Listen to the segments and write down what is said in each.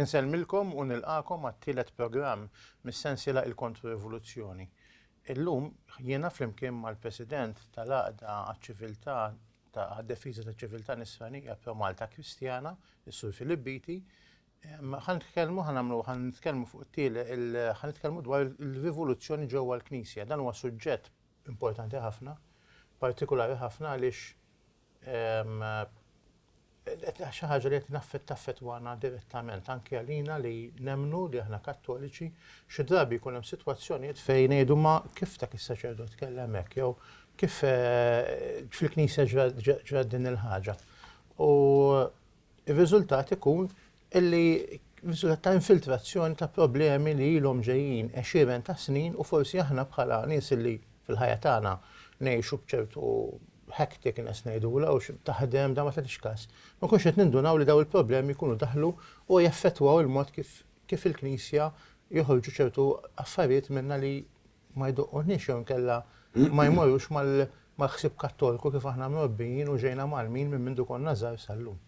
Insellmilkom u nilqagħkom għat-tielet programm mis-sensiela Il-Kontro-Rivoluzzjoni. Illum jiena flimkien mal-President tal-Għaqda għaċ-Ċiviltà ta' Difiża taċ-Ċiviltà Nisranija f'Jo Malta Kristjana, is-Sur Philip Beatty, ħa nitkellmu, ħa nagħmlu, ħa nitkellmu fuq it-tiele, ħa nitkellmu dwar il-rivoluzzjoni ġewwa l-Knisja. Dan huwa suġġett importanti ħafna, partikulari ħafna għaliex Xi ħaġa li qed taffettwana direttament anke għalina li nemmnu li aħna Kattoliċi, xi drabi jkun hemm sitwazzjonijiet fejn ngħidu ma kif dak is-saċerdot tkellem hekk jew kif fil-Knisja ġrat din il-ħaġa. U r-riżultat ikun li riżultat ta' infiltrazzjoni ta' problemi li ilhom ġejjin għexieren ta' snin u forsi aħna bħala nies li fil-ħajja tagħna ngħixu b'ċertu hecticness ngħidulha u taħdem dan ma tagħtix każ, ma nkunux qed nindunaw li dawn il-problemi jkunu daħlu u jaffettwaw il-mod kif kif il-Knisja joħorġu ċertu affarijiet minnha li ma jdoqqunniex jew inkella ma jmorrux mal-ħsieb Kattoliku kif aħna mrobbijin u ġejna mgħallmin minn mindu konna żgħar sal-lum.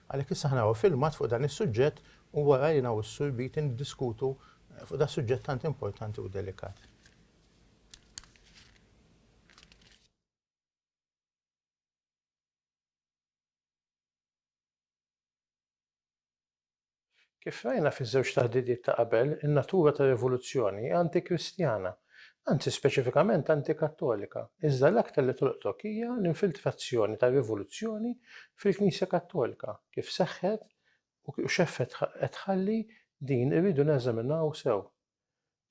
Għalhekk issa aħna naraw filmat fuq dan is-suġġett u wara jiena u s-Sur Beattie niddiskutu fuq da suġġett tant importanti u delikat. Kif rajna fiż-żewġ taħdidiet ta' qabel, in-natura tar-rivoluzzjoni hi anti-Kristjana, anzi speċifikament anti-Kattolika, iżda l-aktar li tolqtok hija l-infiltrazzjoni tar-rivoluzzjoni fil-Knisja Kattolika, kif seħħet u x'effett qed tħalli din irridu neżaminaw sew.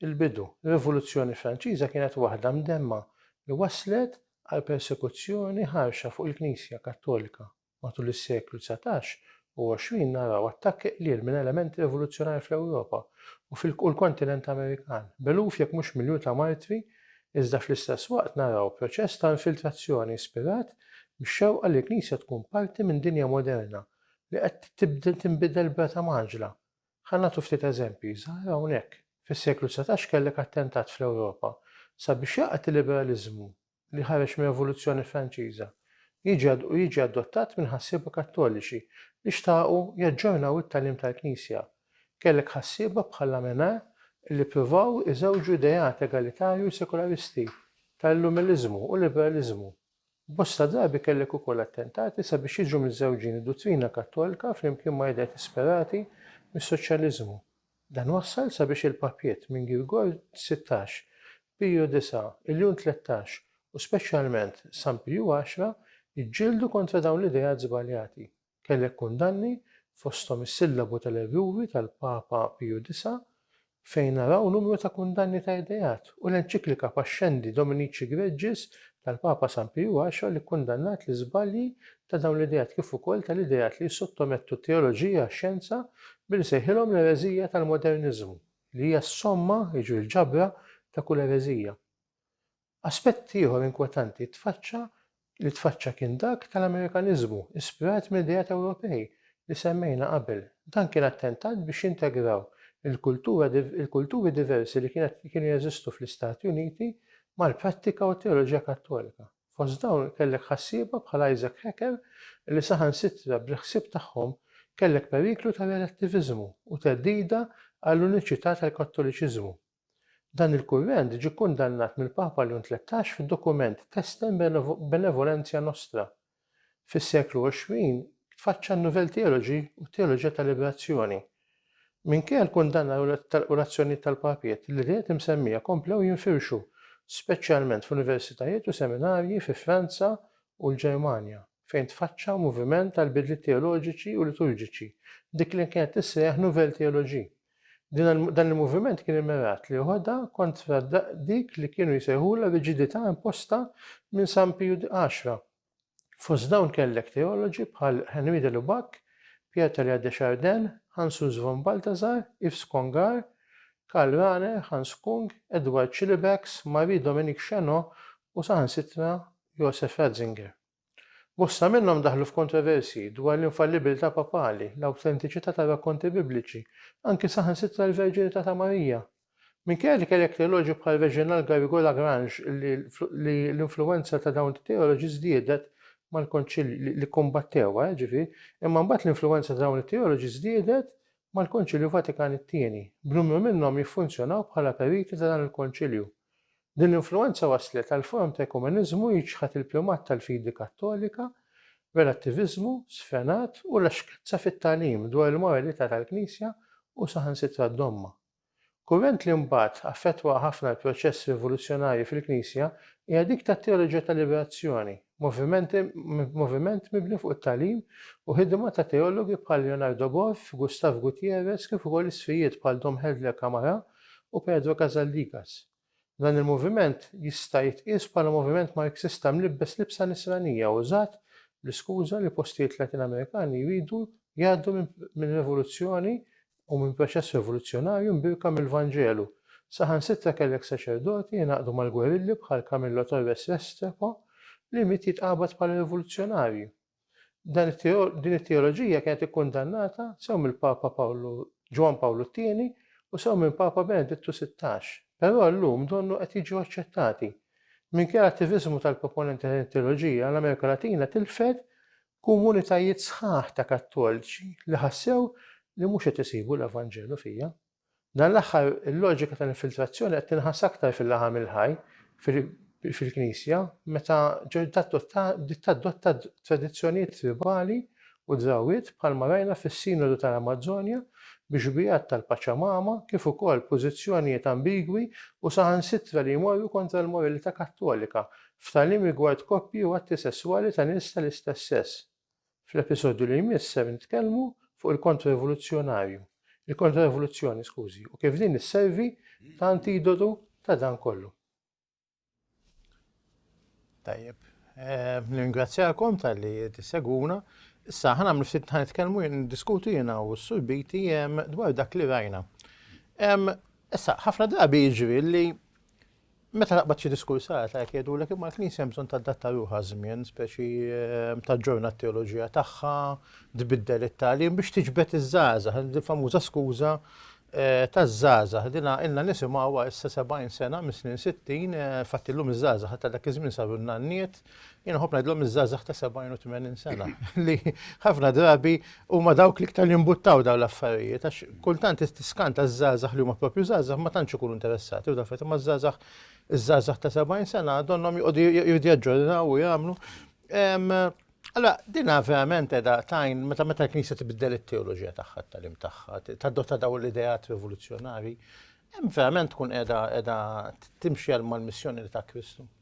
Il-bidu, ir-Rivoluzzjoni Franċiża kienet waħda mdemma li wasslet għal persekuzzjoni ħarxa fuq il-Knisja Kattolika. Matul is-seklu dsatax u għoxrin naraw attakki qliel minn elementi rivoluzzjonarji fl-Ewropa u fil-kontinent Amerikan, b'eluf jekk mhux miljun ta' martri, iżda fl-istess waqt naraw proċess ta' infiltrazzjoni ispirat mix-xewqa li l-Knisja tkun parti minn dinja moderna li qed tibda tinbidel b'rata mgħaġġla. Ħa nagħtu ftit eżempji żgħar hawnhekk. Fis-seklu dsatax kellek attentat fl-Ewropa sabiex jaqgħet il-liberaliżmu li ħareġ mir-Rivoluzzjoni Franċiża, jiġi u jiġi adottat minn ħassieba Kattoliċi li xtaqu jaġġornaw it-tagħlim tal-Knisja. Kellek ħassieba bħal Lamennais li ppruvaw iżewġu ideat egalitarju u sekularisti, ta' Illumiliżmu u Liberaliżmu. Bosta drabi kellek ukoll attentati sabiex jiġu miżżewġin id-duttrina Kattolika flimkien ma' ideat ispirati mis-Soċjaliżmu. Dan wassal sabiex il-papiet minn Girgor sittax, Pirju disa', Iljun tlettax u speċjalment San Pirju għaxra jġġieldu kontra dawn l-ideat żbaljati. Kellek kundanni, fosthom is-sillabu tal-erruri tal-Papa Piju disa', fejn naraw numru ta' kundanni ta' ideat, u l-enċiklika Pascendi Dominici Gregis tal-Papa San Pirju għaxra li kkundannat l-iżbalji ta' dawn l-ideat kif ukoll tal-ideat li jissottomettu t-teoloġija għax-xjenza billi sejħilhom l-ereżija tal-moderniżmu, li hija s-somma, jiġri l-ġabra, ta' kull ereżija. Aspett ieħor inkwetanti tfaċċa li tfaċċa kien dak tal-Amerikaniżmu, ispirat minn ideat Ewropej li semmejna qabel. Dan kien attentat biex jintegraw il-kultura il-kulturi diversi li kienet kienu jeżistu fl-Istati Uniti mal-prattika u t-teoloġija Kattolika. Fost dawn kellek ħassieba bħal Isaac Hacker li saħansitra bil-ħsieb tagħhom kellek periklu ta' relattiviżmu u theddida għall-uniċità tal-Kattoliċiżmu. Dan il-kurrent ġie kkundannat mill-Papa Leon Tlettax fid-dokument Testem Benevolentia Nostra. Fis-seklu għoxrin tfaċċa n-Nouvelle Theology u t-Teoloġija tal-Liberazzjoni. Minkejja l-kundanna u l-azzjonijiet tal-papijiet, l-ideat imsemmija komplew jinfirxu, speċjalment f'universitajiet u seminarji fi Franza u l-Ġermanja, fejn tfaċċa moviment għal bidliet teoloġiċi u liturġiċi, dik li kienet tissejjaħ nouvelle théologie. Dan il-moviment kien immirat li joħodha kontra dik li kienu jsejħulha riġidità imposta minn San Piju X, Fost dawn kellek teoloġi bħal Henri de Lubac, Pierre Teilhard de Chardin, Hans Urs von Balthasar, Yves Congar, Karl Rahner, Hans Küng, Edward Schillebeeckx, Marie Dominique Chéneau u saħansitra Josef Ratzinger. Bosta minnhom daħlu f'kontroversji dwar l-infallibilità papali, l-awtentiċità tar-rakkonti Bibliċi, anki saħansitra l-verġinità ta' Marija. Minkejja li kellek teoloġi bħal Reginald Garrigou-Lagrange li l-influwenza ta' dawn it-teoloġi żdiedet mal-Konċilju, li kkumbattewha, jiġifieri, imma mbagħad l-influwenza ta' dawn it-teoloġi żdiedet mal-Konċilju Vatikan it-Tieni, b'numru minnhom jiffunzjonaw bħala periti ta' dan il-Konċilju. Din l-influwenza wasslet għal forom ta' ekumeniżmu jiċħad il-primat tal-fidi Kattolika, relattiviżmu sfrenat u laxkezza fit-tagħlim dwar il-moralità tal-Knisja u saħansitra d-domma. Kurrent li mbagħad affettwa ħafna l-proċess rivoluzzjonarju fil-Knisja hija dik tat-teoloġija tal-liberazzjoni, moviment mibni fuq it-tagħlim u ħidma ta' teologi bħal Leonardo Boff, Gustav Gutierrez kif ukoll isqfijiet bħal Dom Helder Camara u Pedro Casaldigas. Dan il-moviment jista' jitqies bħala moviment Marxista mlibbes libsa nisranija użat bl-iskuża li postijiet Latin Amerikani jridu jgħaddu minn revoluzzjoni u minn proċess revoluzzjonarju mbierka mill-Vanġelu. Saħansitra kellek saċerdoti jingħaqdu mal-gwerilli bħal Camillo Torres Restrepo li miet jitqabad bħala rivoluzzjonarju. Din it-teoloġija kienet ikkundannata sew mill-Papa Ġwann Pawlu t-Tieni u sew minn Papa Benedittu Sittax, però llum donnu qed jiġu aċċettati. Minkejja l-attiviżmu tal-proponenti ta' din it-teoloġija, l-Amerika Latina tilfet komunitajiet sħaħ ta' Kattoliċi li ħassew li mhux qed isibu l-Evanġelu fiha. Dan l-aħħar il-loġika tal-infiltrazzjoni qed tinħass aktar fil-laħam il-ħaj fil-Knisja meta bdiet tadotta tradizzjonijiet tribali u drawwiet bħalma rajna fis-Sinodu tal-Amazzonja bi xbiehat tal-Paċamama kif ukoll pożizzjonijiet ambigwi u saħansitra li jmorru kontra l-moralità Kattolika f'tagħlim rigward koppji u atti sesswali ta' nies tal-istess sess. Fl-episodju li jmiss ser nitkellmu fuq il-Kontra-Rivoluzzjonarju, il-Kontra-Rivoluzzjoni, skużi, u kif din isservi ta' antidotu ta' dan kollu. Tajjeb, eh, ningrazzjakom tal-li tissegwuna. Issa, ħana għamlu ftit ħan nitkellmu diskutu jena u s-surbiti dwar dak li rajna. Issa, ħafna drabi jiġri li Meta naqbad xi diskursata hekk jgħidulek imma l-Knisja hemm bżonn tadatta ruħha għaż-żmien, speċi taġġorna t-teoloġija tagħha, tbiddel it-tagħlim biex tiġbed iż-żgħażagħ, il-famuża skuża taż-żgħażagħ. Dina ilna nisimgħuha issa 70 sena mis-snin 60, fatt illum iż-żgħażagħ ta' dak iż-żmien saru n-nanniet, Jena ħob ngħidlhom iż-żgħażagħ ta' 70 u 80 sena li ħafna drabi huma dawk li ktar jimbuttaw dawn l-affarijiet għax kultant tiskanta ż-żgħażagħ li huma propju żgħażagħ ma tantx ikunu interessati u dafet imma ż-żgħażagħ iż-żgħażagħ ta' 70 sena donnhom joqogħdu jridu jaġġornaw u jagħmlu. Alla, dina verament edha tajn, meta meta l-Knisja tibdel it-teoloġija tagħha tal-im tagħha, tadotta daw l-idejat rivoluzzjonari, hemm verament tkun edha edha timxi għal mal-missjoni ta' Kristu.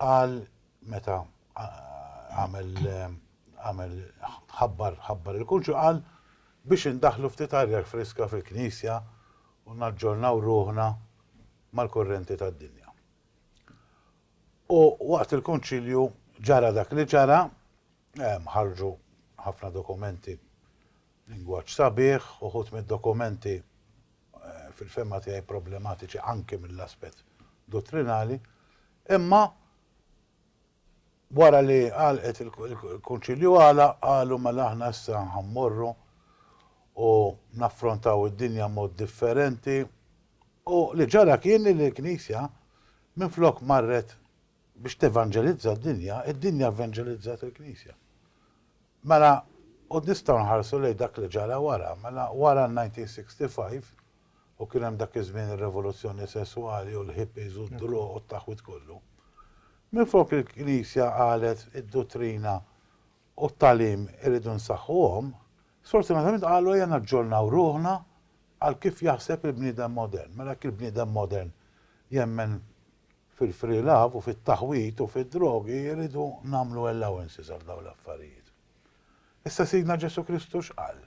Qal meta għamel għamel ħabbar ħabbar il-kunċu qal biex indaħħlu ftit arja friska fil-Knisja u naġġornaw ruħna mal-kurrenti tad-dinja. U waqt il-Kunċilju ġara dak li ġara Hemm ħarġu ħafna dokumenti b'lingwaġġ sabiħ, uħud mid-dokumenti fil-fehma tiegħi problematiċi anki mill-aspett dottrinali, imma wara li għalqet il-Kunċilju għalaq qalu mela aħna issa ħammorru u naffrontaw id-dinja mod differenti u li ġara kien li l-Knisja minflok marret Biex tevanġelizza d-dinja, id-dinja vvanġelizzat il-Knisja. Mela, u nistgħu nħarsu lejn dak li ġara wara. Mela, wara n-1965, u kien hemm dak iż-żmien ir-revoluzzjoni sesswali u l-hippies u d-droga u t-taħwid kollu, minflok il-Knisja qalet id-duttrina u t-tagħlim irridu nsaħħuhom, sfortunatament qalu ejja naġġornaw ruħna għal kif jaħseb il-bniedem modern. Mela jekk il-bniedem modern jemmen fil-free love u fit-taħwid u fid-drogi irridu nagħmlu allowances għal dawn l-affarijiet. Issa Sidna Ġesù Kristu x'qal?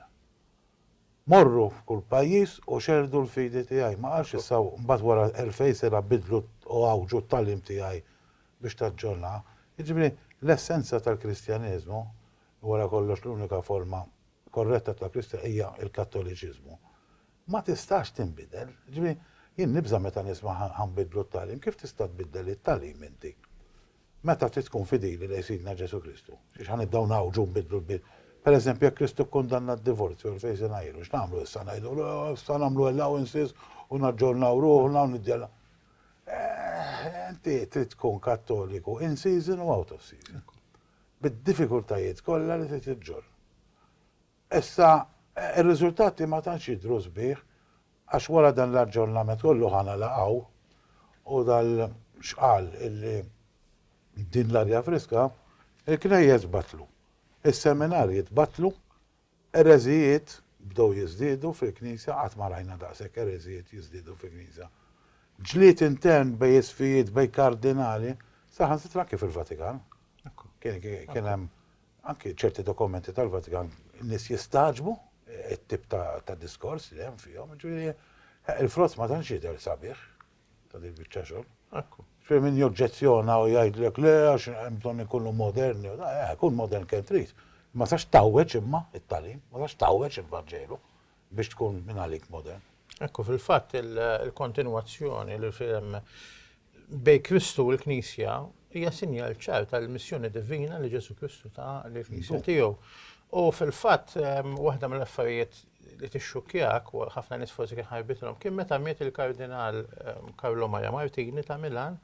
Morru f'kull pajjiż u xerrdu l-fidi tiegħi. Ma qalx issa u mbagħad wara elfejn sena biddlu u għawġu t-tagħlim tiegħi biex taġġornaha. Jiġifieri, l-essenza tal-Kristjaneżmu, wara kollox l-unika forma korretta ta' Kristjan hija l-Kattoliċiżmu, ma tistax tinbidel. Jiġifieri, jien nibża' meta nisma' ħa nbiddlu t-tagħlim. Kif tista' tbiddel it-tagħlim inti? Meta trid tkun fidili lejn Sidna Ġesù Kristu? Xiex ħa nibdew ngħawġu u nbiddlu l-bib? Per eżempju, jekk Kristu kkundanna d-divorzju għal fejn se ngħiru, x'nagħmlu issa? Ngħidulu, Issa nagħmlu allowances u naġġornaw ruħna u niddjal. Inti trid tkun Kattoliku in season u out of season. Bid-diffikultajiet kollha li trid iġġorr. Issa, ir-riżultati ma tantx jidhru sbieħ għax wara dan l-aġġornament kollu ħa nalaqgħu u dal-xqal illi din l-arja friska, il-knejjes batlu, is-seminarji tbattlu, ereżijiet bdew jiżdiedu fil-Knisja, qatt ma rajna daqshekk ereżijiet jiżdiedu fil-Knisja, ġlied intern bejn isqfijiet, bejn kardinali, saħansitra anke fil-Vatikan kien hemm Anki ċerti dokumenti tal-Vatikan in-nies jistagħġbu t-tip ta' diskors li hemm fihom, jiġifieri il-frott ma tantx jidher sabiħ ta' din biċċa xogħol. Ekku. Ġifieri min joġġezzjona u jgħidlek le għax hemm bżonn ikunu moderni, eh, kun modern kemm trid. Ma sax tawweġ imma it-tagħlim, ma sax tawweġ il-Vanġelu. biex tkun minn għalik modern. Ekku fil-fatt il-kontinwazzjoni li fil bej Kristu u l-Knisja hija sinjal ċar tal-missjoni divina li Ġesu Kristu ta' l-Knisja tiegħu. U fil-fatt waħda mill-affarijiet li tixxukjak u ħafna nies forsi kien ħarbitilhom kien meta miet il-Kardinal Karlo Maria Martini ta' Milan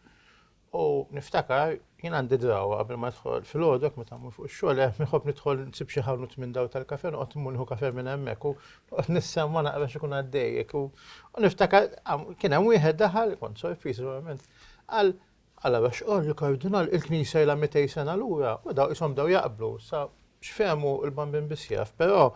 U niftakar, jien għandi drawa qabel ma nidħol fil-għodok meta mmur fuq ix-xogħol hemm inħobb nidħol nsib xi ħanut minn daw tal-kafè noqgħod immur nieħu kafè minn hemmhekk u noqgħod nissemma naqra x'ikun għaddejjek u niftakar kien hemm wieħed daħal, kont sorpriż verament, qal Allora x'qal il-Kardinal il-Knisja ilha 200 sena lura u daw ishom bdew jaqblu sa x'fehmu l-bambin biss jaf, però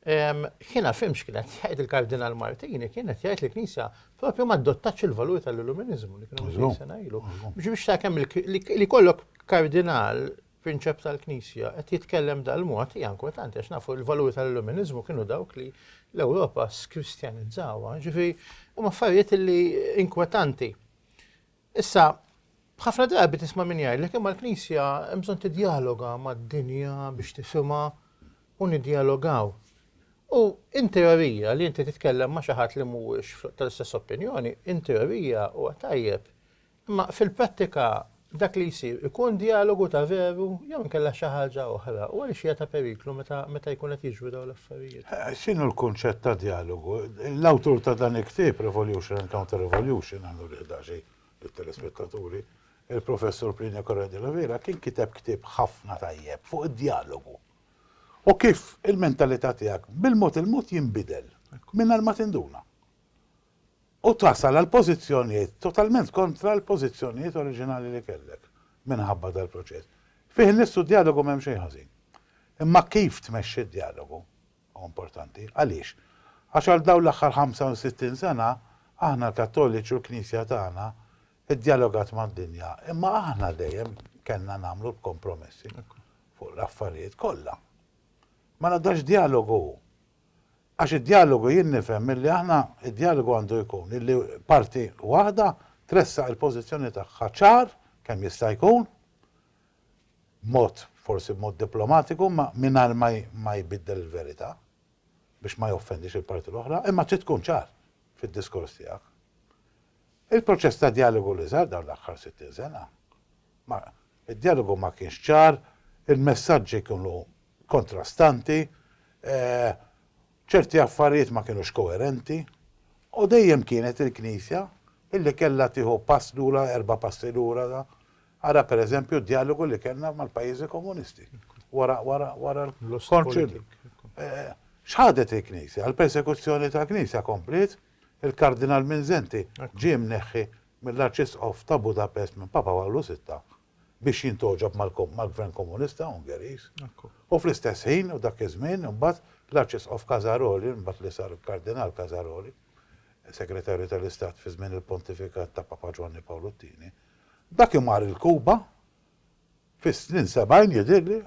Jiena fhimt x'kien qed jgħid il-Kardinal Martini, kien qed jgħid li l-Knisja propju ma adottatx il-valuri tal-Illuminizmu li kienu minn sena ilu. Biex biex ta' kemm li kollok kardinal prinċep tal-Knisja qed jitkellem dal-mod hija inkwetanti għax nafu l-valuri tal-Illuminizmu kienu dawk li l-Ewropa skristjanizzawha. Ġifi, huma affarijiet li inkwetanti. Issa, ħafna drabi tisma' min jgħidlek imma l-Knisja hemm bżonn tiddjaloga mad-dinja biex tifhimha u niddjalogaw. U in teorija li inti titkellem ma' xi ħadd li mhuwiex tal-istess opinjoni, in teorija huwa tajjeb. Imma fil-prattika dak li jsir ikun djalogu ta' veru jew inkella xi ħaġa oħra u għaliex hija ta' periklu meta meta jkun qed jiġru dawn l-affarijiet. X'inhu l-kunċett ta' djalogu? L-awtur ta' dan il-ktieb, Revolution and Counter-Revolution, għan nurih daqsxejn lit-telespettaturi, il-Professur Plinio Corrêa de la Vera, kien kiteb ktieb ħafna tajjeb fuq id-djalogu u kif il-mentalità tiegħek bil-mod il-mod jinbidel mingħajr ma tinduna. u tasal għal pożizzjonijiet totalment kontra l-pożizzjonijiet oriġinali li kellek minħabba dal-proċess. Fih innifsu d-djalogu m'hemm xejn ħażin. Imma kif tmexxi d-djalogu hu importanti. Għaliex? Għax għal dawn l-aħħar 65 sena, aħna l-Kattoliċi u l-Knisja tagħna ddjalogat mad-dinja, imma aħna dejjem kellna nagħmlu l-kompromessi fuq l-affarijiet kollha. Mela da x'djalogu hu? Għax id-djalogu jien nifhem illi aħna d-djalogu għandu jkun illi parti waħda tressaq il-pożizzjoni tagħha ċar kemm jista' jkun, b'mod forsi b'mod diplomatiku imma mingħajr ma jbiddel il-verità biex ma joffendix il-parti l-oħra, imma trid tkun ċar fid-diskors tiegħek. Il-proċess ta' djalogu li sar dawn l-aħħar 60 sena, ma, id-djalogu ma kienx ċar, il-messaġġi kienu kontrastanti, ċerti affarijiet ma kienux koerenti, u dejjem kienet il-Knisja illi kellha tieħu pass lura, erba' passi lura, ara per eżempju d-djalogu li kellna mal-pajjiżi komunisti wara, wara, wara l-Konċilju. X'ħadet il-Knisja? Il-persekuzzjoni tal-Knisja kompliet? Il-Kardinal Mindszenty ġie mneħħi mill-Arċisqof ta' Budapest minn Papa Pawlu Sitta biex jintgħoġob mal-Gvern Komunista Ungeriż u fl-istess ħin u dak iż-żmien imbagħad l-Arċisqof Casaroli imbagħad li sar il-Kardinal Casaroli, Segretarju tal-Istat fi żmien il-Pontifikat ta' Papa Ġwanni Pawlu t-Tieni. Dak imar il-Kuba fis-snin sebgħin jidhirli,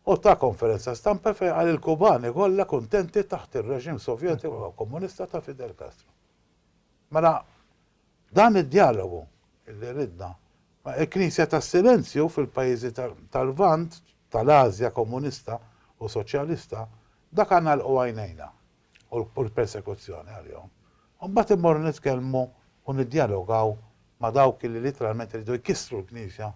u ta konferenza stampa fejn qal il-Kubani kollha kuntenti taħt ir-reġim Sovjetiku u Komunista ta' Fidel Castro. Mela, dan id-djalogu li ridna, ma il-Knisja tas-Silenzju fil-pajjiżi tal-Lvant, tal-Ażja Komunista u Soċjalista, dak għandna nagħlqu għajnejna. u l-persekuzzjoni għalihom, u mbagħad immorru nitkellmu u niddjalogaw ma' dawk li litteralment iridu jkissru l-Knisja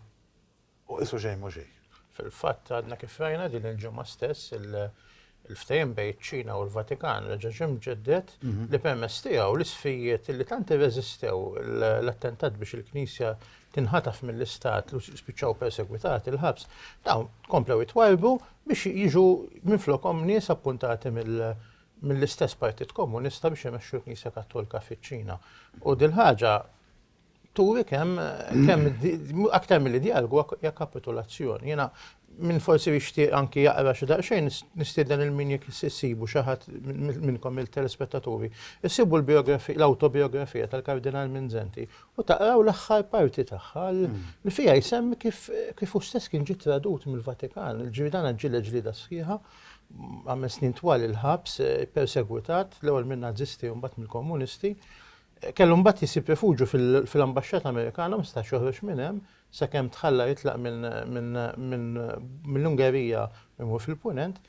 u qisu xejn mhu xejn. Fil-fatt, għadna kif rajna din il-ġimgħa stess il-ftehim bejn iċ-Ċina u l-Vatikan reġa' ġie mġedded li permezz tiegħu l-isfijiet li tant irreżistew l-attentat biex il-Knisja tinħataf mill-Istat li spiċċaw persegwitati l-ħabs, dawn komplew jitwarrbu biex jiġu minflokhom nies appuntati mill-istess Partit Komunista biex imexxu l-Knisja Kattolika fiċ-Ċina. U dil-ħaġa turi kemm kemm aktar milli djalgu hija kapitulazzjoni. Jiena minn forsi jixtieq anki jaqra xi daqsxejn nistieden il min jekk issibu xi ħadd minnkom il-telespettaturi. Issibu l-biografija l-awtobiografija tal-Kardinal Minzenti u taqraw l-aħħar parti tagħha li fiha jsemmi kif kif hu stess kien ġie tradut mill-Vatikan. Ġifieri dan ġġieled ġlieda sħiħa, għamel snin twal il-ħabs, ippersegwitat l-ewwel min-Nazisti u mbagħad mill-Komunisti. Kellu mbagħad jisib rifuġju fil-ambaxxata Amerikana u ma setax joħroġ minn hemm sakemm tħalla jitlaq mill-Ungerija imur fil-Punent.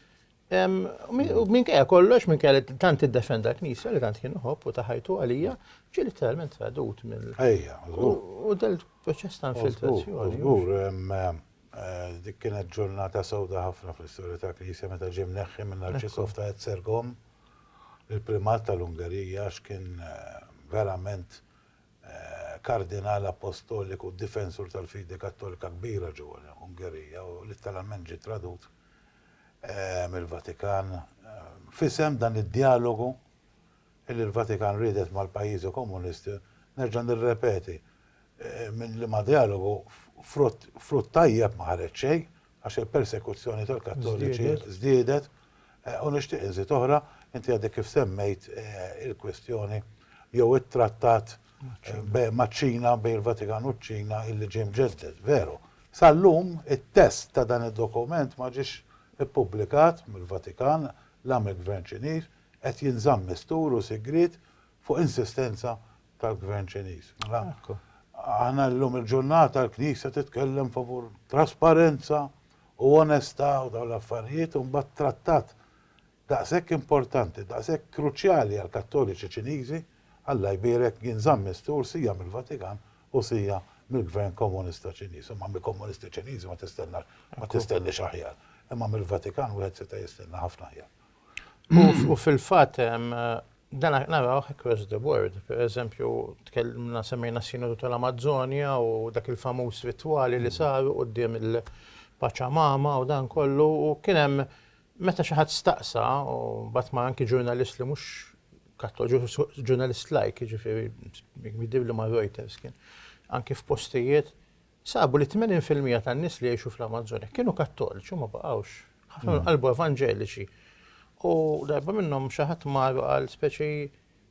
U minkejja kollox, minkejja li tant iddefenda l-Knisja li tant kien uħobb u taħajtu għalija, ġie literalment tradut mill. Ejja, U del proċess ta' infiltrazzjoni. Żgur, eh, dik kienet ġurnata sewda ħafna fl-istorja ta' Knisja meta ġie mneħħi minn Arċisqof ta' Etzergom, il-primat tal-Ungerija, x'kien eh, verament Kardinal Appostoliku u difensur tal-fidi Kattolika kbira ġewwa l-Ungerija u litteralment ġie tradut mill-Vatikan f'isem dan id-djalogu li l-Vatikan riedet mal-pajjiżi Komunisti, nerġa' nirrepeti, minn liema djalogu frott tajjeb ma ħareġ xejn, għax il-persekuzzjoni tal-Kattoliċi żdiedet, u nixtieq inżid oħra, inti għadek kif semmejt il-kwistjoni jew it-trattat maċ-Ċina, bejn il-Vatikan u ċ-Ċina illi ġie mġedded, veru. Sal-lum it-test ta' dan id-dokument ma ġiex ippubblikat mill-Vatikan la mill-Gvern Ċiniż, qed jinżamm mistur u sigriet fuq insistenza tal-Gvern Ċiniż. Mela, aħna llum il-ġurnata l-Knisja titkellem favur trasparenza u onestà u dawn l-affarijiet u mbagħad trattat daqshekk importanti, daqshekk kruċjali għall-Kattoliċi Ċiniżi, Alla jbierek, jinżamm mistur sija mill-Vatikan u sija mill-Gvern Komunista Ċiniż. Imma mill-Komunisti Ċiniżi ma tistennax, ma tistenniex aħjar. Imma mill-Vatikan wieħed seta' jistenna ħafna aħjar. U fil-fatt dan narawh across the board. Per eżempju, tkellimna semmejna s-Sinodu tal-Amazzonja u dak il-famuż ritwali li saru quddiem il-Paċamama u dan kollu u kien hemm meta xi ħadd staqsa u mbagħad ma anki ġurnalist li mhux kattoliku, ġurnalist lajk, jiġifieri jidhirli ma' Reuters kien, anki f'postijiet Sabu li tmenin fil-mija tan-nies li jgħixu fl-Amazzonja kienu Kattoliċi u ma baqgħux. Ħafna minnhom qalbu Evanġeliċi. U darba minnhom xi ħadd mar u qal speċi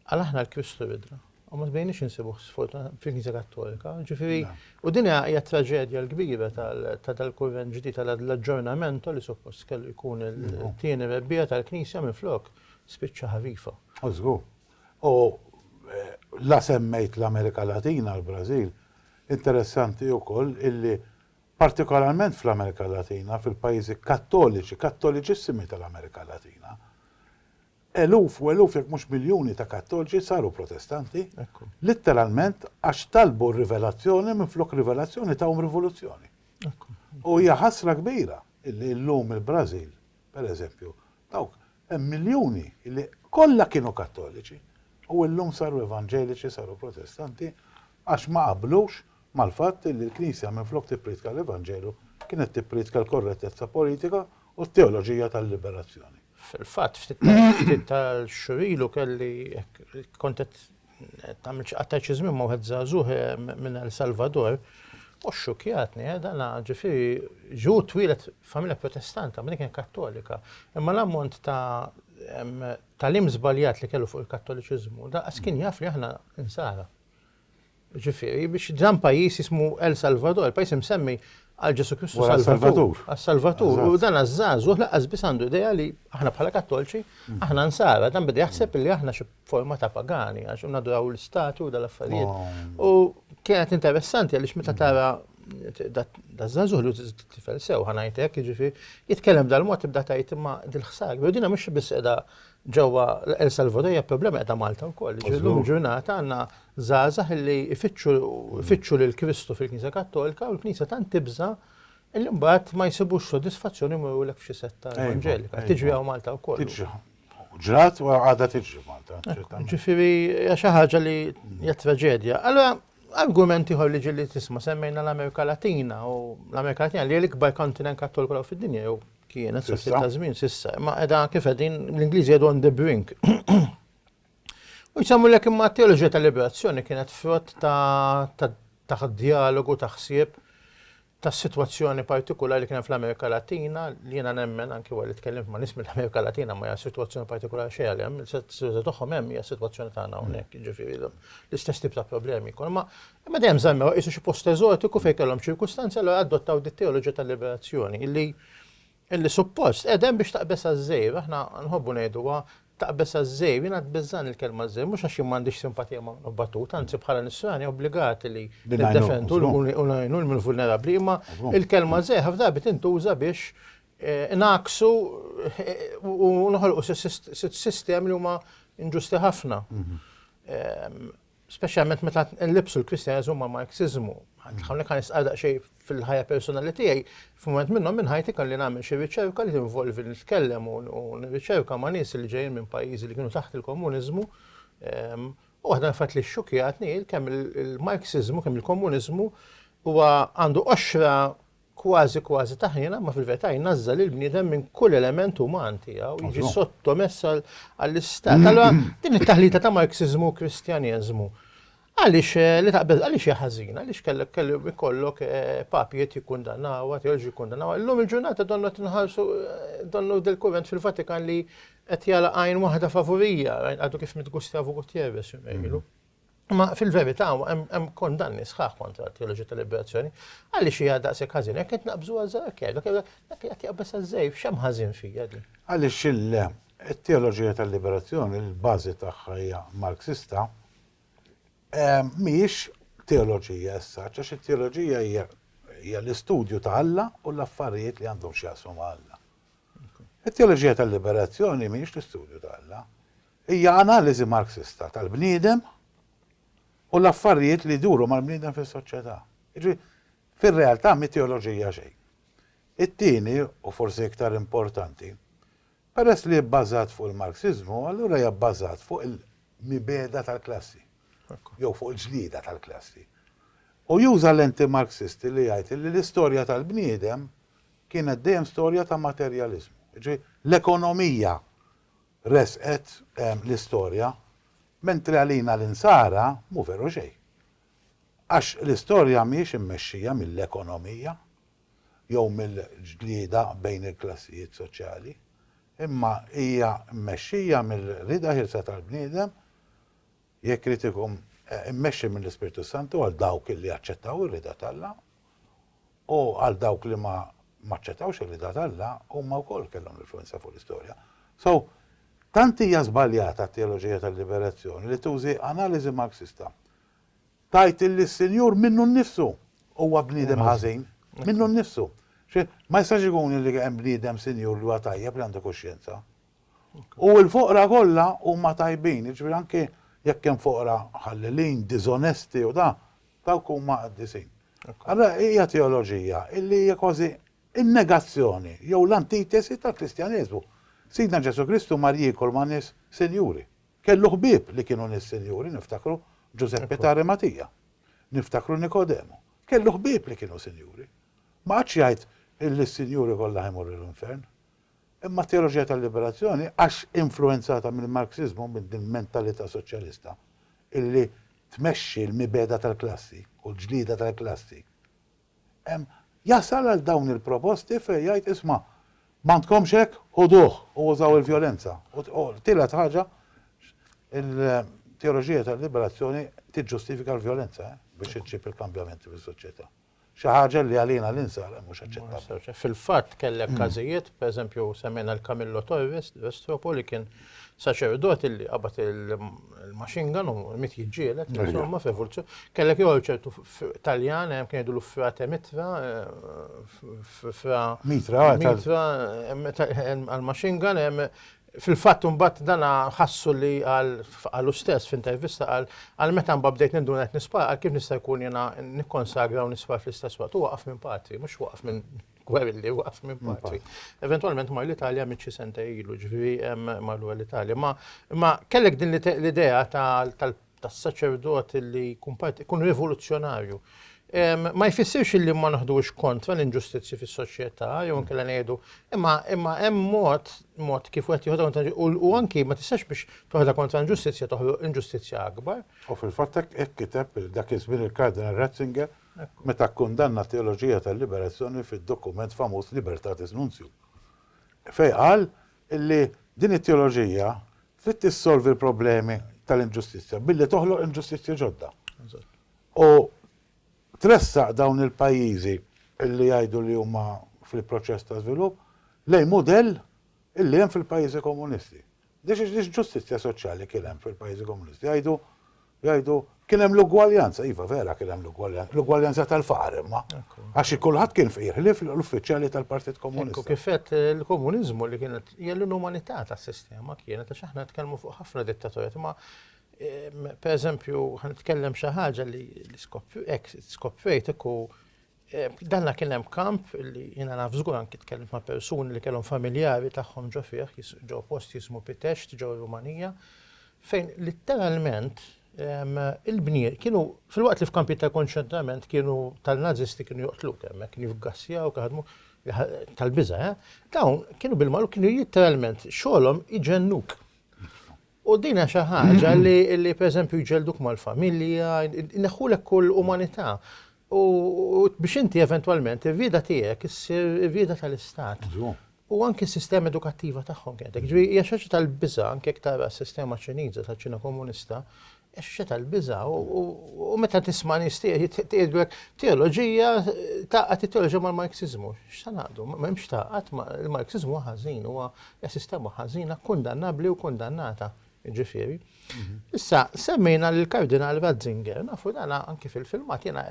qal aħna l-Kristu ridna. U ma sbejniex insibuh sfortunatament fil-Knisja Kattolika. Ġifieri, u din hija t-traġedja l-kbira ta' dal-kurrent ġdid ta' l-aġġornamento li suppost kellu jkun it-tieni rebbiegħa tal-Knisja minflok spiċċa ħarifa. Żgur. U la semmejt l-Amerika Latina, l-Brażil, interessanti wkoll illi partikolarment fl-Amerika Latina, fil-pajjiżi kattoliċi, kattoliċissimi tal-Amerika Latina, eluf u eluf jekk mhux miljuni ta' kattoliċi saru protestanti, litteralment għax talbu rivelazzjoni minflok rivelazzjoni tawhom rivoluzzjoni. U hija ħasra kbira illi llum il-Brażil, per eżempju, dawk hemm miljuni li kollha kienu Kattoliċi u llum saru Evanġeliċi, saru Protestanti għax ma qablux mal-fatt li l-Knisja minflok tippriedka l-Evanġelu kienet tippriedka l-korrettezza politika u t-teoloġija tal-liberazzjoni. Fil-fatt, ftit tal-xhur ilu kelli, kont qed Tagħmilx qatta' xi żmien ma' wieħed żagħżugħ minn El Salvador u xxukjatni, eh, dan ġifieri ġu twielet familja protestanta, ma' kien kattolika. Imma l-ammont ta' tal-im żbaljat li kellu fuq il-kattoliċiżmu, da' kien jaf li aħna insara. Ġifieri biex dan pajjiż jismu El Salvador, pajjiż imsemmi għal Ġesu Kristu Salvatur. Għal Salvatur. U dan għaż-żagħżugħ laqas biss għandu idea li aħna bħala kattolċi, aħna nsara, dan beda jaħseb li aħna xi forma ta' pagani, għax unaduraw l-istatu u dal-affarijiet. Oh. U kienet interessanti għalix meta tara da zazuħ li t-tifel sew ħanajtek, ġifi, jitkellem dal-mod tibda tajt imma dil-ħsar. U dina mux bis edha ġewwa El Salvador hija problema edha Malta wkoll. Ġillum ġurnata għandna żgħażagħ li ifittxu lil Kristu fil-Knisja Kattolika u l-Knisja tant tibża' il-imbat ma jsibux sodisfazzjoni murulek f'xi setta evanġelika. Tiġri għaw Malta wkoll. Ġrat u għadha tiġri Malta. Ġifieri hija xi ħaġa li hija traġedja. Allora argument ieħor li ġilli tisma' semmejna l-Amerika Latina u l-Amerika Latina li l-ikbar kontinent kattoliku fid-dinja jew kienet sa ftit ta' żmien sissa, ma qiegħda kif qegħdin l-Ingliżi qegħdu on the brink. U jsemmu lek imma t-teoloġija tal-liberazzjoni kienet frott ta' dialogu ta' ħsieb tas-sitwazzjoni partikulari li kien hemm fl-Amerika Latina, li jiena nemmen anki wara li tkellimt ma' nies mill-Amerika Latina ma hija sitwazzjoni partikulari xejn għalihom, is-sitwazzjoni tagħhom hemm hija s-sitwazzjoni tagħna hawnhekk, jiġifieri l-istess tip ta' problemi jkunu. Imma imma dejjem żammew qisu xi post eżotiku fejn kellhom ċirkustanzi allura adottaw dit-teoloġija tal-liberazzjoni li Illi suppost qiegħda hemm biex taqbeż għaż-żgħir, aħna nħobbu ngħiduha taqbeż għaż-żgħir, jiena tbiżżagħni l-kelma żgħir, mhux għax jien m'għandix simpatija ma' Minnu Battuta, anzi bħala Nisrani obbligati li niddefendu u ngħinu l-vulnerabbli, imma l-kelma żgħir ħafna drabi tintuża biex ngħakksu u noħolqu sistemi li huma inġusti ħafna. speċjalment meta nlibsu l-Kristjaneżmu ma' Marxiżmu. Hawnhekk għan nistqar daqsxejn fil-ħajja personali tiegħi, f'mument minnhom minn ħajti kelli nagħmel xi riċerka li tinvolvi nitkellem u nirriċerka ma' nies li ġejjin minn pajjiżi li kienu taħt il-komuniżmu. Ehm, u waħda nfat li xxukjatni kemm il-Marxiżmu, kemm il-komuniżmu huwa għandu qoxra kważi kważi taħnina, ma fil-verità jnażżal il-bniedem minn kull element uman tiegħu, jiġi sottomess għall-istat. Allora, din it-taħlita ta' Marxizmu u Kristjaneżmu Għaliex eh, li taqbeż, għaliex hija ħażina, għaliex kellek kellu ikollok eh, papijiet jikkundanawha, teoloġi jikkundanawha. Illum il-ġurnata donnu qed nħarsu eh, donnu del-kurrent fil-Vatikan li qed jala għajn waħda favurija, għadu kif mitgustja Gutierrez jumejlu. Imma fil-verità hemm kondanni sħaħ kontra t-teoloġija tal-liberazzjoni. Għaliex hija daqshekk ħażin, hekk qed naqbżu għażarkja, dak qed jaqbeż għażej, x'hemm ħażin fija din? Għaliex il-teoloġija tal-liberazzjoni l-bażi tagħha hija Marxista mhijiex teoloġija as such, għax it-teoloġija hija l-istudju ta' Alla u l-affarijiet li għandhom x'jaqsmu ma' Alla. It-teoloġija tal-liberazzjoni mhijiex l-istudju ta' Alla, Hija analiżi Marxista tal-bniedem u l-affarijiet li jduru mal-bniedem fis-soċjetà. Jiġifieri, fir-realtà mhi teoloġija xejn. It-tieni, u forsi iktar importanti, peress li hi bbażat fuq il-Marxiżmu, allura hija bbażat fuq il-mibegħda tal-klassi, jew fuq il-ġlieda tal-klassi. U juża lenti Marxisti li jgħid li l-istorja tal-bniedem kienet dejjem storja ta' materjaliżmu. Jiġifieri, l-ekonomija resqet l-istorja, mentri għalina l-Insara mhu veru xejn. Għax l-istorja mhijiex immexxija mill-ekonomija jew mill-ġlieda bejn il-klassijiet soċjali, imma hija mmexxija mill-rieda ħielsa tal-bniedem Jekk irid ikun immexxi mill-Ispirtu s-Santu għal dawk li aċċettaw ir-rieda t'Alla, u għal dawk li ma aċċettawx ir-rieda t'Alla, huma wkoll kellhom l-influwenza fuq l-istorja. So, tant hija żbaljata t-teoloġija tal-liberazzjoni li tużi analiżi Marxista. Tgħid illi s-Sinjur minnu nnifsu huwa bniedem ħażin. Minnu nnifsu. Ma jistax ikun illi hemm bniedem Sinjur li huwa tajjeb li għandu kuxjenza. U l-foqra kollha huma tajbin, jiġifieri anki jekk hemm foqra ħallilin, diżonesti u da, dawk huma qaddisin. Allura hija teoloġija illi hija kważi n-negazzjoni jew l-antitesi tal-Kristjaneżmu. Sidna Ġesù Kristu mar jiekol ma' nies sinjuri. Kellu ħbieb li kienu nies sinjuri, niftakru Ġużeppi ta' Arimatija, niftakru Nikodemu. Kellu ħbieb li kienu sinjuri. Ma qagħadx jgħid illi s-sinjuri kollha ħa jmorru l-infern. Imma t-teoloġija tal-liberazzjoni, għax influwenzata mill-Marxiżmu, minn din il-mentalità soċjalista, illi tmexxi l-mibegħda tal-klassi u l-ġlieda tal-klassi, hemm jasal għal dawn il-proposti fejn jgħid, isma', m'għandkomx hekk, ħuduh u użaw il-vjolenza. U t-tielet ħaġa, il-teoloġija tal-liberazzjoni tiġġustifika l-vjolenza biex iġġib il-kambjamenti fis-soċjetà. Xi ħaġa li għalina l-insara mhux aċċettabbli. Fil-fatt kellek każijiet, pereżempju semmejna l-Camillo Torres, Vestropo li kien saċerdot illi qabad il-machine gun u mit jiġġieled, insomma f'evoluzzjoni. Kellek jew ċertu Taljan hemm kien jgħidulu frate mitra, fra mitra, mitra għal-machine gun hemm Fil-fatt imbagħad dan ħassu li qal qalu stess f'intervista qal għal meta mbagħad bdejt ninduna qed nispara qal kif nista' jkun jiena nikkonsagra u nispar fl-istess waqt. Hu waqaf minn patri, mhux waqaf minn gwerilli, waqaf minn patri. Eventwalment mar l-Italja mitt xi sentej ilu, ġifieri mar lura l-Italja. Imma kellek din l-idea tal-patri tas saċerdot li jkun parti, jkun rivoluzzjonarju. Ma jfissirx li ma naħdux kontra l-inġustizzji fis-soċjetà, jew nkella ngħidu, imma imma hemm mod mod kif wieħed joħodha kontra u anki ma tistax biex toħodha kontra l-inġustizzja toħloq inġustizzja akbar. U fil-fatt hekk kiteb dak iż-żmien il-Kardinal Ratzinger meta kkundanna t-teoloġija tal-liberazzjoni fid-dokument famuż Libertatis Nuntium. Fejn qal li din it-teoloġija Trid tissolvi l-problemi tal-inġustizzja billi toħloq inġustizzji ġodda. U tressaq dawn il-pajjiżi li jgħidu li huma fil-proċess ta' żvilupp lejn mudell illi hemm fil-pajjiżi komunisti. Dix ġustizzja soċjali kien hemm fil-pajjiżi komunisti. Jgħidu Jgħidu, kien hemm l-ugwaljanza. Iva, vera kien hemm l-ugwaljanza. L-ugwaljanza tal-faqar imma. Għax kulħadd kien fqir, ħlief l-uffiċjali tal-Partit Komunista. Ekku kif għedt, il-komuniżmu li kienet hija l-inumanità tas-sistema kienet għax aħna nitkellmu fuq ħafna dittatorjat imma pereżempju ħa nitkellem xi ħaġa li skoppjajt hekk u Eh, danna kien hemm kamp li jiena naf żgur anki tkellimt ma' persuni li kellhom familjari tagħhom ġo fih, ġo post jismu Pitext ġo Rumanija, fejn litteralment ehm, il-bniet kienu fil-waqt li f'kampi ta' konċentrament kienu tal-Nazisti kienu joqtlu hemmhekk, kienu jifgassjaw, kaħdmu tal-biża', eh? dawn kienu bil-malu kienu literalment xogħolhom iġennuk. U din hija xi ħaġa li pereżempju jġelduk mal-familja, ineħħulek kull umanità. U biex inti eventwalment ir-rieda tiegħek issir ir-rieda tal-istat. U anki s-sistema edukattiva tagħhom kienet hekk. Ġifieri hija xi ħaġa tal-biża' anke jekk tara s-sistema Ċiniża taċ-Ċina Komunista, Eċċe tal-biża' u meta tisma' nies tgħidlek teoloġija taqgħad it-teoloġija mal-Marxiżmu. X'sa naqdu? M'hemmx taqgħad il-Marxiżmu ħażin huwa sistema ħażina kundannabbli u kundannata. Ġifieri. Mhm. Issa semmejna lil Kardinal Ratzinger, nafu dana anki fil-filmat jiena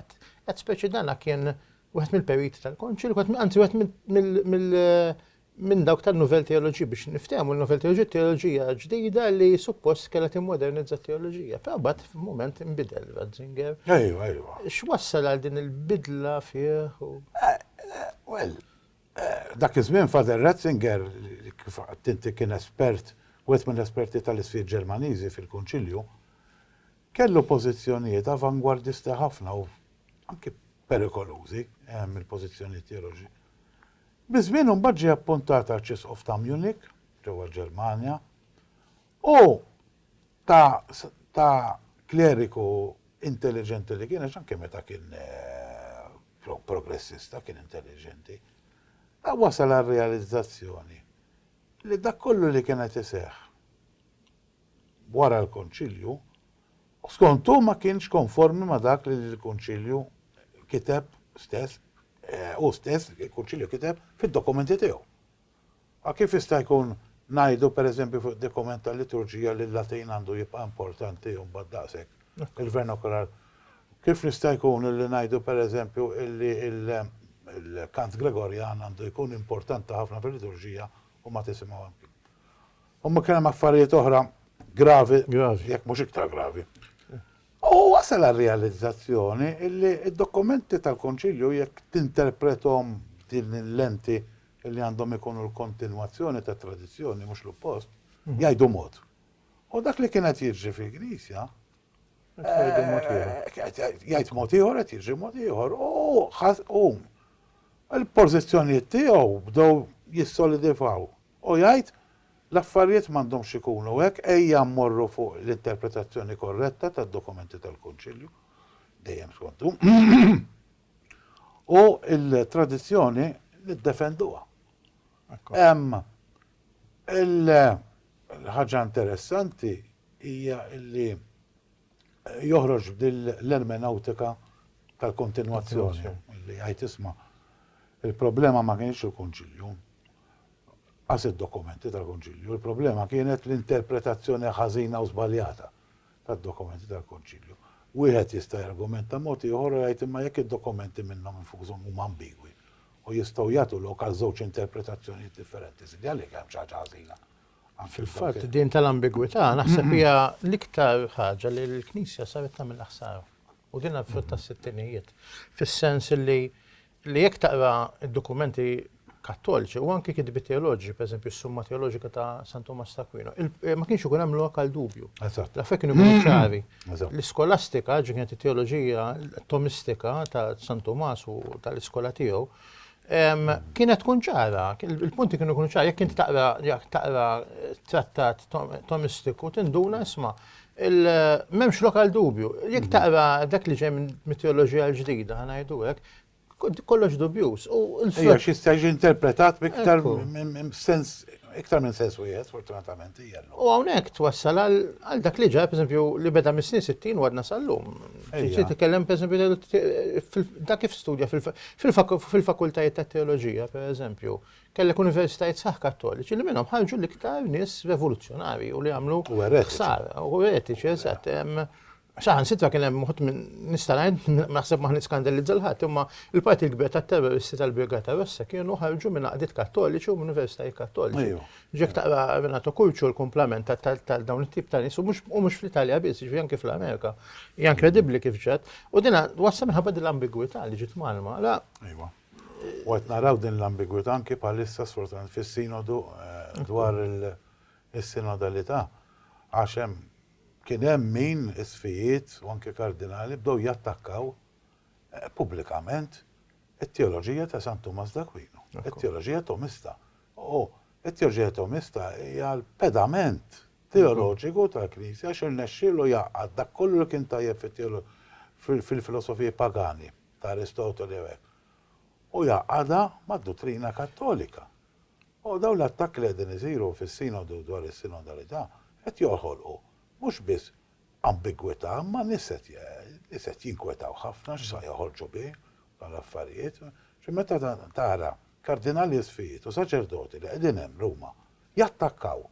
qed speċi dana kien wieħed mill-periti tal-konċil, anzi wieħed mill minn dawk tan-Nouvelle Théologie biex niftehmu l-Nouvelle Théologie teoloġija ġdida li suppost kellha timmodernizza t-teoloġija. Però mbagħad f'mument inbidel Ratzinger. Ejwa, ejwa. X'wassal għal din il-bidla fih? Eh, eh, well, eh, dak iż-żmien Father Ratzinger kif tinti kien espert wieħed mill-esperti tal-isfir Ġermaniżi fil-Kunċilju, kellu pożizzjonijiet avangwardisti ħafna u anki perikolużi mill-pożizzjonijiet teoloġi Biż-żmien imbagħad ġie appuntat Arċisqof ta' Munich, ġewwa l-Ġermanja, u ta' ta' kleriku intelliġenti li kien, għax anke meta kien progressista kien intelliġenti, ta' wasal għar-realizzazzjoni li dak kollu li kien qed iseħħ wara l-Konċilju, skont hu ma kienx konformi ma' dak li l-Kunċilju kiteb stess Hu stess, il-Kunċilju kiteb fid-dokumenti tiegħu. A kif jista' jkun ngħidu, per eżempju, fuq id-dokument tal-liturġija li l-Latin għandu jibqa' importanti u mbagħad daqshekk il-vernacular? Kif jista' jkun illi ngħidu, per eżempju, illi l-kant Gregorjan għandu jkun importanti ħafna fil-liturġija u ma tisimgħu hemm kien? Huma kien hemm affarijiet oħra gravi, jekk mhux iktar gravi, Hu wasal għar-realizzazzjoni illi d-dokumenti tal-Konċilju jekk tinterprethom b'din il-lenti illi għandhom ikunu l-kontinwazzjoni tat-tradizzjoni mhux l-oppost, jgħidu mod. U dak li kien qed jiġri fil-Knisja, jgħid mod ieħor qed jiġri mod ieħor u il-pożizzjonijiet tiegħu bdew jissolidifaw. U jgħid, L-affarijiet m'għandhomx ikunu hekk, ejja mmorru fuq l-interpretazzjoni korretta tad-dokumenti tal-Kunċilju, dejjem skont hu, u l-tradizzjoni niddefenduha. Hemm il-ħaġa interessanti hija li. joħroġ b'din l-ermenewtika tal-kontinwazzjoni li jgħid isma' il-problema ma kinitx il-Kunċilju, qas id-dokumenti tal-Kunċilju, il-problema kienet l-interpretazzjoni ħażina u żbaljata tad-dokumenti tal-Kunċilju. Wieħed jista' jargumenta mod ieħor u jgħid imma jekk id-dokumenti minnhom infushom huma ambigwi u jistgħu jagħtu lok għal żewġ interpretazzjonijiet differenti, sinjali li hemm xi ħaġa ħażina. Fil-fatt din tal-ambigwità naħseb hija l-iktar ħaġa li l-Knisja saret tagħmilha ħsara. U din għal tas-sittinijiet. Fis-sens li li jekk taqra d-dokumenti kattoliċi u anki kitbi teoloġi, per eżempju, s-summa teoloġika ta' San Tomas ta' Aquino, eh, ma kienx ikun hemm lokal dubju. Eżatt. L-affek kienu mm-hmm. ċari. L-iskolastika, ġi kienet it-teoloġija tomistika ta' San Tomas u tal-iskola tiegħu, Kienet tkun ċara, il-punti kienu kunu ċara, jekk inti taqra jekk taqra trattat tomistiku tinduna isma' il-memx lokal dubju. Jekk taqra dak li ġej minn mitoloġija l-ġdida ħanajdu hekk, kollox dubjus. U l-frott. Għax jista' jiġi interpretat b'iktar sens iktar minn sens wieħed, fortunatament, hija. U hawnhekk twassal għal dak li ġara, pereżempju, li beda mis-snin 60 u għadna sal-lum. Ġiet titkellem pereżempju dak kif studja fil-fakultajiet ta' teoloġija, pereżempju, kellek universitajiet saħ kattoliċi li minnhom ħarġu l-iktar nies revoluzzjonari u li għamlu ħsara u eretiċi eżatt. Saħan sitra kien hemm moħt minn nistarajn naħseb maħni skandalizza l-ħadd imma il-parti l-kbir tat-terroristi tal-Brigata Rossa kienu ħarġu minn għaqdiet kattoliċi u minn universitajiet kattoliċi. Jekk taqra Renato Curcio l-kumplament ta' dawn it-tip ta' nies u mhux fl-Italja biss, jiġifieri anke fl-Amerika, hija inkredibbli kif ġat. U dina wassal minħabba din l-ambigwità li ġiet mgħallma. La. Iva. U qed naraw din l-ambigwità anke bħalissa sfortunatament fis-sinodu dwar is-sinodalità għax hemm kien hemm min isqfijiet u anke kardinali bdew jattakkaw pubblikament it-teoloġija ta' San Tumas d'Aquino, it-teoloġija Tomista. U t-Teoġetomista hija l-pedament teoloġiku tal-Knisja għax irnexxielu jgħaqqad dak kollu li kien tajjeb fil-filosofiji pagani ta' Aristoteli u hekk u jgħaqqadha mad-duttrina Kattolika. U dawn l-attakki li qegħdin isiru fis-Sinodu dwar is-Sinodalità qed joħolqu mhux biss ambigwità imma n-nies qed jinkwetaw ħafna x'sa joħorġu bi dawn l-affarijiet. Meta tara Kardinali isfijiet u saċerdoti li qegħdin hemm Ruma jattakkaw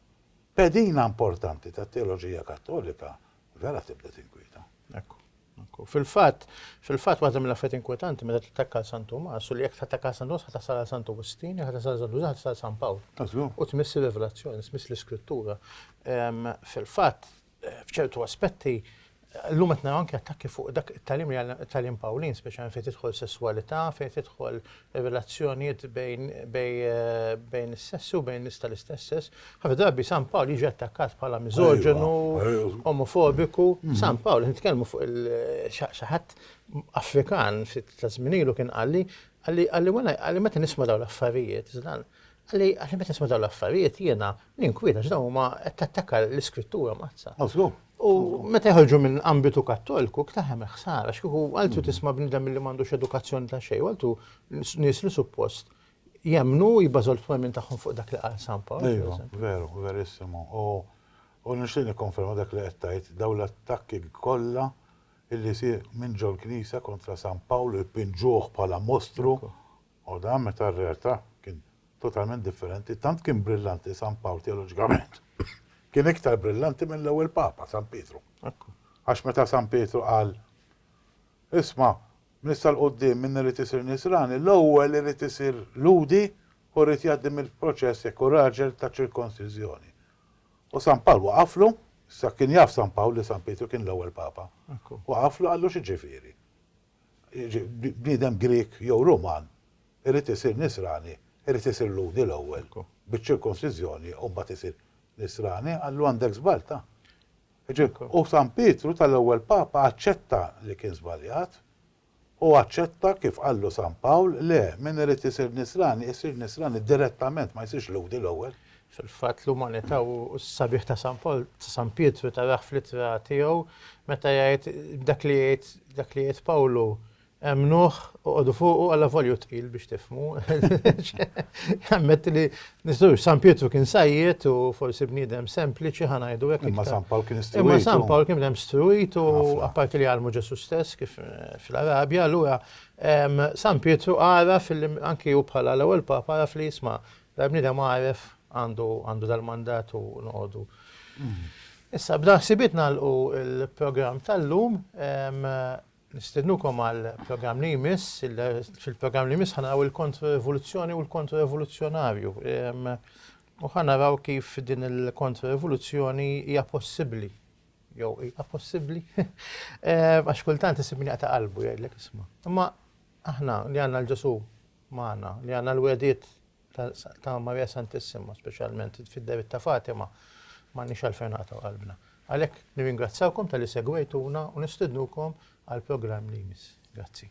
pedina importanti tat-teoloġija Kattolika vera tibda tinkwieta. Ekku, ekku. Fil-fatt, fil-fatt waħda mill-affarijiet inkwetanti meta tattakka għal San Tumas u li jekk tattakka għal San Tumas ħa tasal għal San Wistin, jekk ħa tasal għal San Wistin ħa tasal għal San Pawl. U tmiss ir-Rivelazzjoni, tmiss l-Iskrittura. Fil-fatt, f'ċertu aspetti, llum qed naraw anke attakki fuq dak it-tagħlim li għandna, it-tagħlim Pawlin, speċjalment fejn tidħol sesswalità, fejn tidħol relazzjonijiet bejn bejn is-sessi u bejn nies tal-istess sess. Ħafna drabi San Pawl jiġi attakkat bħala miżoġenu, omofobiku. San Pawl, nitkellmu fuq il-xi ħadd Afrikan ta' żmien ilu kien qalli, qalli wara, qalli meta nisma' dawn l-affarijiet, Qalli, Għax meta nisma' dawn l-affarijiet jiena ninkwieta għax dawn huma qed tattakka l-Iskrittura mazza. U meta jħolġu minn ambitu Kattolku, ktaħem il-ħsara, x'kieku għaltu tisma' bniedem li m'għandux edukazzjoni ta' xejn, għaltu nies li suppost jemmnu u jibbażaw l-twemmin tagħhom fuq dak li qal San Pawl. Iva, veru, verissimo. U nixtieq nikkonferma dak li qed tgħid, dawn l-attakki kollha illi jsir minn ġol-Knisja kontra San Pawl u jpinġuh bħala mostru U dan meta r-realtà kien totalment differenti, tant kien brillanti San Pawl teoloġikament kien iktar brillanti mill-ewwel Papa, San Pietru. Għax meta San Pietru qal, Isma', minn issa 'l quddiem min irid isir Nisrani, l-ewwel irid isir Lhudi u jrid jgħaddi mill-proċess jekk hu raġel ta' ċirkonsiżjoni. U San Pawl waqaflu, issa kien jaf San Pawl li San Pietru kien l-ewwel Papa, waqaflu qallu x'jiġifieri? bniedem Grieg jew Ruman irid isir Nisrani, irid isir Lhudi l-ewwel, biċ-ċirkonsiżjoni u mbagħad isir Nisrani, qallu għandek żbalt, ah. Jiġifieri, u San Pietru tal-ewwel Papa aċċetta li kien żbaljat u aċċetta kif qallu San Pawl, le, min irid isir Nisrani, isir Nisrani direttament, ma jsirx Lhudi l-ewwel. Fil-fatt, l-umanità u s-sabiħ ta' San Pawl, ta' San Pietru tarah fl-ittra tiegħu meta jgħid dak li jgħid dak li jgħid Pawlu, Emmnuh, oqogħdu fuqu alla volja hu tqil biex tifhmu. Jammetti li nistgħux San Pietru kien sajjed u forsi bniedem sempliċi ħa ngħidu hekk. Imma San Pawl kien istruit. Imma San Pawl kien bniedem struit u apparti li għalmu Ġesu stess kif eh, fl-Arabja, allura San Pietru għaraf anki hu bħala l-ewwel papa għaraf li jisma' Dal-bniedem għaref għandu għandu dal-mandat u noqogħdu. Issa b'dan ħsibiet nagħlqu l-programm tal-lum. Nistednukom għal programm li jmiss, fil-programm li jmiss ħanaraw il-kontrorevoluzzjoni u l-kontrorevoluzzjonarju. U ħanaraw kif din il-kontrorevoluzzjoni hija possibbli. Jew hija possibbli. Għax kultant isib min jaqta' qalbu jgħidlek isma'. Imma aħna li għandna l-Ġesu magħna, li għandna l-wegħdiet ta' Marija Santissima, speċjalment fid-dehriet ta' Fatima, m'għandniex għalfejn naqtgħu qalbna. Għalhekk nirringrazzjawkom talli segwejtuna u nistednukom għall-programm li jmiss. Grazzi.